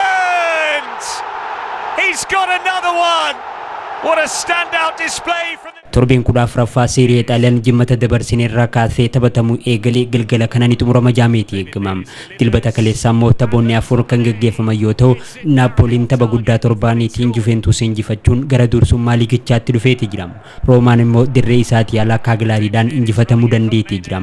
And he's got another one! What a standout display from the... Torbeen 14ffaa Seerie A Xaaliyaan Jimmata dabarsine irraa kaasee taphatamuu eegale galgala kana ni xumurama jaameeti eegama. Dilbata kaleessaa immoo taphoonni afur kan gaggeeffaman yoo ta'u, Naappooliin tapha guddaa torbaaniitiin Juveentuus injifachuun gara dursummaa liigichaatti dhufeeti jira. Roomaan immoo dirree isaatii alaa Kaagilaariidhaan injifatamuu dandeeti jira.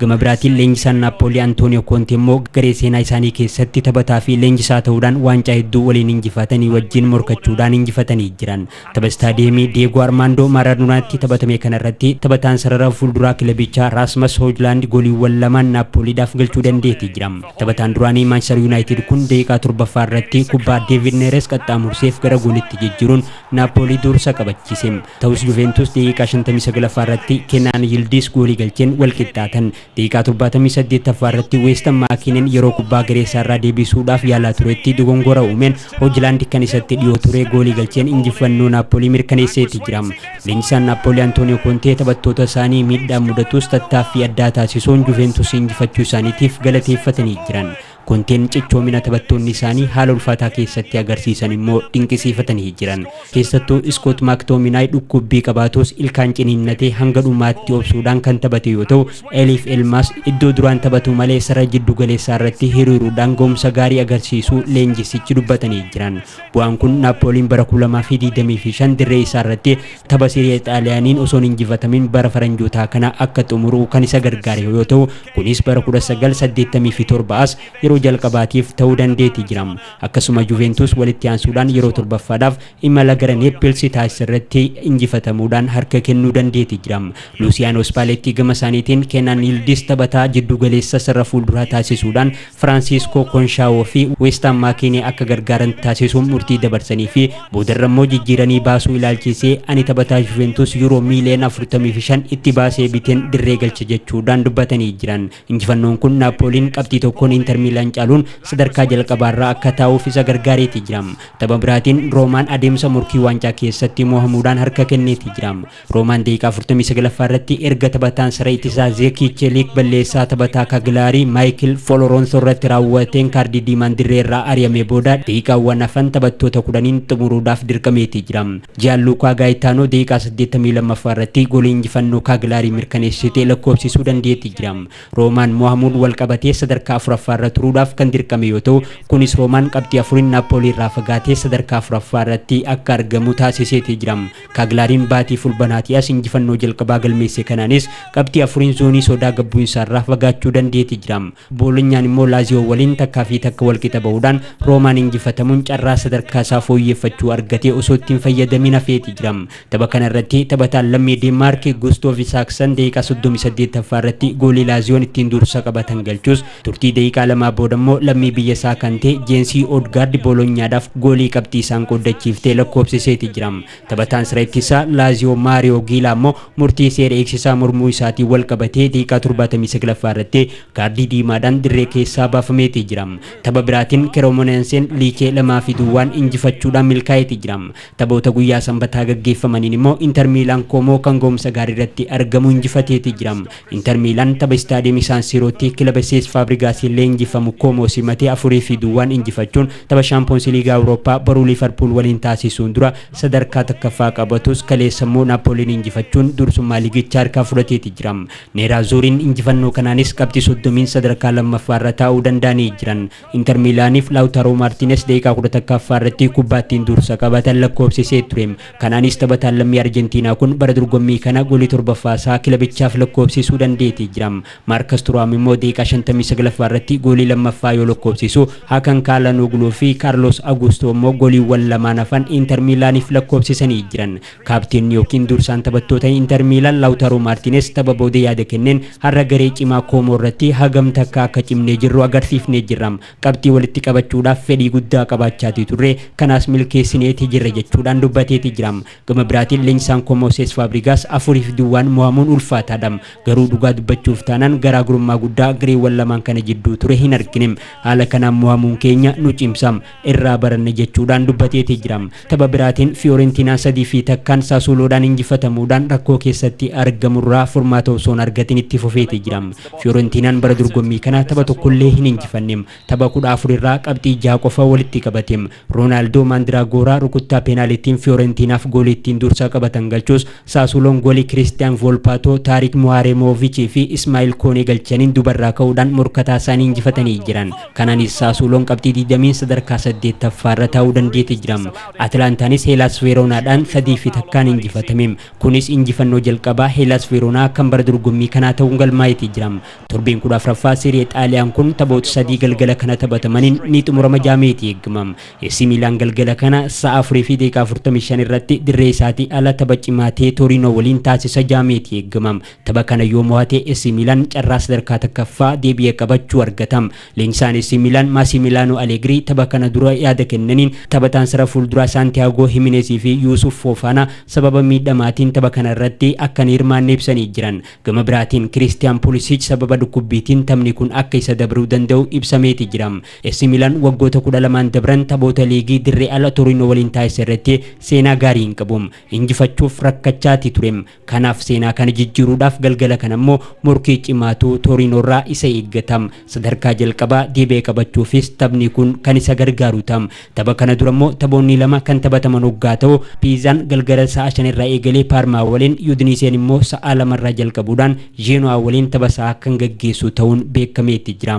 Gama biraatiin leenjisaan Naappoolii Antooniyoo Koonte immoo garee seenaa isaanii keessatti taphataa fi leenjisaa ta'uudhaan waancaa hedduu waliin injifatanii wajjin morkachuudhaan injifatanii jiran. Tapha Istaadiyeemii Diyeegoo Armaandoo Maaraadonaatti taphatame kana irratti taphataan sarara fuulduraa kilabichaa Raasmas Hoojlaand gooliiwwan lamaan Naappooliidhaaf galchuu dandeeti jira. Taphataan duraanii Maanchistar Yuunaayitid kun daqiiqaa torbaffaa irratti kubbaa Deevid Neeres qaxxaamurseef gara goolitti jijjiiruun Naappoolii duursa qabachiise. Ta'us Juveentus daqiiqaa 59ffaa irratti Kenaan Yildiis goolii galcheen wal qixxaatan. Daqiiqaa 78ffaa irratti Weestan Maakinen yeroo kubbaa garee isaa irraa deebisuudhaaf yaalaa turetti dogongora uumeen Hojlaand kan isatti dhiyoo ture goolii galcheen injifannoo Naappoolii mirkaneesseeti jira. Leenjisaan Naappoolii Antooniyoo Kontee taphattoota isaanii miidhaan mudatus tattaaffii addaa taasisuun Juveentus injifachuu isaaniitiif galateeffatanii jiran. Konteen cichoomina taphattoonni isaanii haala ulfaataa keessatti agarsiisan immoo dinqisiifatanii jiran. Keessattuu Iskoot Maaktominaay dhukkuubbii qabaatuus ilkaan ciniinnatee hanga dhumaatti obsuudhaan kan taphate yoo ta'u, Eliif Elmaas iddoo duraan taphatu malee sarara jiddu galeessaa irratti hiriiruudhaan ga'umsa gaarii agarsiisuu leenjissichi dubbatanii jiran. Bu'aan kun Naappooliin bara 2025 dirree isaa irratti tapha Sirii'ee Xaaliyaaniin osoo hin injifatamin bara faranjootaa kana akka xumuru kan isa gargaare yoo ta'u, Kunis bara 1987 as yeroo jalqabaatiif ta'uu dandeeti jira. Akkasuma Juventus walitti aansuudhaan yeroo torbaffaadhaaf imala gara Neepilsi taasisarratti injifatamuudhaan harka kennuu dandeeti jira. Luusiyaanoo Spaaleettii gamasaaniitiin Keenan Yildiz taphataa jiddugaleessa sarara fuulduraa taasisuudhaan Firaansiiskoo Konshaawoo fi Weestaan Maakiinee akka gargaaran taasisuun murtii dabarsanii fi boodarra immoo jijjiiranii baasuu ilaalchisee ani taphataa Juventus Yuuroo miiliyoona 45 itti baasee biteen dirree galcha jechuudhaan dubbatanii jiran. Injifannoon kun Naappooliin qabxii tokkoon Inter Miilaan caaluun sadarkaa jalqabaarra akka taa'uuf isa gargaareeti jira. Tapha biraatiin Roomaan adeemsa morkii waancaa keessatti mohamuudhaan harka kenneeti jira. Roomaan daqiiqaa 49ffaa irratti erga taphataan saree ittisaa Zeekii Cheliik balleessaa taphataa Kagilaarii Maayikil Foloroonsoo irratti raawwateen kaardii diimaan dirree irraa ari'amee booda daqiiqaawwan hafan taphattoota 10n xumuruudhaaf dirqameeti jira. Jiyaanluukaa Gaayitaanoo daqiiqaa 82ffaa irratti goolii injifannoo Kaagilaarii mirkaneessite lakkoofsisuu dandeeti jira. Roomaan mo'amuun wal qabatee sadarkaa 4ffaa irra turuudhaaf kan dirqame yoo ta'u, kunis Roomaan qabxii 4n Naappoolii irraa fagaatee sadarkaa 4ffaa irratti akka argamu taasiseeti jira. Kaaglaariin baatii Fulbanaatii as injifannoo jalqabaa galmeesse kanaanis qabxii afuriin zoonii sodaa gad bu'insaarraa fagaachuu dandeeti jira. Boolonyaan immoo Laaziyoo waliin takkaa fi takka wal qixa ba'uudhaan Roomaan injifatamuun carraa sadarkaa isaa fooyyeeffachuu argate osoo itti hin fayyadamiin hafeeti jira. Tapha kana irratti taphataan lammii Deenmaarki Gustoov Isaaksan daqiiqaa 38ffaa irratti goolii Laaziyoon ittiin dursa qabatan galchus Turtii daqiiqaa lamaa booda immoo lammii biyya isaa kan ta'e Jeensii Oodgaardi Boolonyaadhaaf goolii qabxii isaan qooddachiifte lakkoofsiseeti jira. Taphataan sira ittisaa Laaziyoo Maariyoo Giilaa immoo murtii seera eegsisaa mormuu isaatiin wal qabatee daqiiqaa 79ffaa irratti kaardii diimaadhaan dirree keessaa baafameeti jira. Tapha biraatiin Keremonenseen Liichee 2 fi duwwaan injifachuudhaan milkaa'eeti jira. Taphoota guyyaa Sanbataa gaggeeffamaniin immoo Inter Miilaan Koomoo kan gahumsa gaarii irratti argamu injifateeti jira. Inter Miilaan tapha Istaadiyeemii Saan Siirootti kilaba Sees Faabrigaasiin leenjifamu Koomoo simate 4 fi duwwaan injifachuun tapha Shaampoonsi Liigaa Awurooppaa boru Liivarpuul waliin taasisuun dura sadarkaa 1ffaa qabatus kaleessa immoo Naappooliin injifachuun dursummaa liigichaa harkaa fudhateeti jira. Neeraazuuriin injifannoo kanaanis qabxii 30n sadarkaa 2ffaarra taa'uu danda'anii jiran. Inter Miilaaniif Laawtaaroo Maartiines daqiiqaa 11ffaa irratti kubbaa ittiin dursa qabatan lakkoofsisee ture. Kanaanis taphataan lammii Arjentiinaa kun bara dorgommii kana goolii 7ffaa isaa kilabichaaf lakkoofsisuu dandeetee jira. Maarkas Turaam immoo daqiiqaa 59ffaa irratti goolii 2ffaa yoo lakkoofsisu, Hakan Kaalhanoogluufi Kaarloos Aguustoo immoo gooliiwwan lamaan hafan Inter Miilaaniif lakkoofsisanii jiran. Kaapteenni ykn dursaan taphattoota Inter Miilan Lawutaroo Maartiines tapha booda yaada kenneen har'a garee cimaa Koomoo irratti hagam takka akka cimnee jirru agarsiifnee jirra. Qabxii walitti qabachuudhaaf fedhii guddaa qabaachaatii turre, kanaas milkeessineeti jirra jechuudhaan dubbateeti jira. Gama biraatiin leenjisaan Koomoo Sees Faabrigaas afuriif duwwaan mo'amuun ulfaataadha. Garuu dhugaa dubbachuuf taanaan garaagrummaa guddaa gareewwan lamaan kana jidduu ture hin argine. Haala kanaan mo'amuun keenya nu cimsa. irraa baranne jechuudhaan dubbateeti jira. Tapha biraatiin Fiyoorentiinaan sadii fi takkaan Saasuuloodhaan injifatamuudhaan rakkoo keessatti argamurraa furmaata osoo hin argatin itti fufeeti jira. Fiyoorentiinaan bara dorgommii kana tapha tokkollee hin injifanne. Tapha 14 irraa qabxii 6 qofa walitti qabate. Roonaaldoo Maandiraagoora rukuttaa peenaalitiin Fiyoorentiinaaf goolii ittiin dursa qabatan galchus Saasuuloon goolii Kiristiyaan Voolpaatoo, Taariik Muhaareemoovichii fi Ismaa'iil Koonee galchaniin duubarraa ka'uudhaan morkataa isaanii injifatanii jiran. Kanaanis Saasuuloon qabxii 20n sadarkaa 8ffaarra taa'uu dandeete jira. Atilaantaanis Heelaas Veeroonaadhaan 3 fi takkaan injifatame. Kunis injifannoo jalqabaa Heelaas Veeroonaa kan bara dorgommii kanaa ta'uun galmaa'eeti jira. Torbeen 14ffaa Seeri'ee Xaaliyaan kun taphoota sadii galgala kana taphatamaniin ni xumurama ja'ameeti eegama. Eesii Miilaan galgala kana sa'a 4:45 irratti dirree isaatii ala tapha cimaa ta'e Tooriinoo waliin taasisa ja'ameeti eegama. Tapha kana yoo mo'ate AC Milan carraa sadarkaa takkaffaa deebi'ee qabachuu argata. Leenjisaan AC Milan Maasimilaanoo Aleegirii tapha kana dura yaada kennaniin taphataan sara fuulduraa Saantiyaagoo Himineez fi Yuusuuf Foofaanaa sababa miidhamaatiin tapha kana irratti akka hin hirmaanne ibsanii jiran. Gama biraatiin Kiriistiyaan Pulisiich sababa dhukkubbiitiin taphni kun akka isa dabruu danda'u ibsameeti jira. AC Milan waggoota 12n dabran taphoota liigii dirree ala Toriinoo waliin taasise irratti seenaa gaarii hin qabu. Injifachuuf rakkachaati ture. Kanaaf seenaa kana jijjiiruudhaaf galgala kana immoo morkii cimaatu Tooriinoorraa isa eeggata. Sadarkaa jalqabaa deebi'ee qabachuufis taphni kun kan isa gargaaru ta'a. Tapha kana dura immoo taphoonni lama kan taphataman oggaa ta'u, Piizaan galgala sa'a shan irraa eegalee Paarmaa waliin, Yudiniseen immoo sa'aa lama irraa jalqabuudhaan Zheenuwaa waliin tapha sa'aa kan gaggeessu ta'uun beekameeti jira.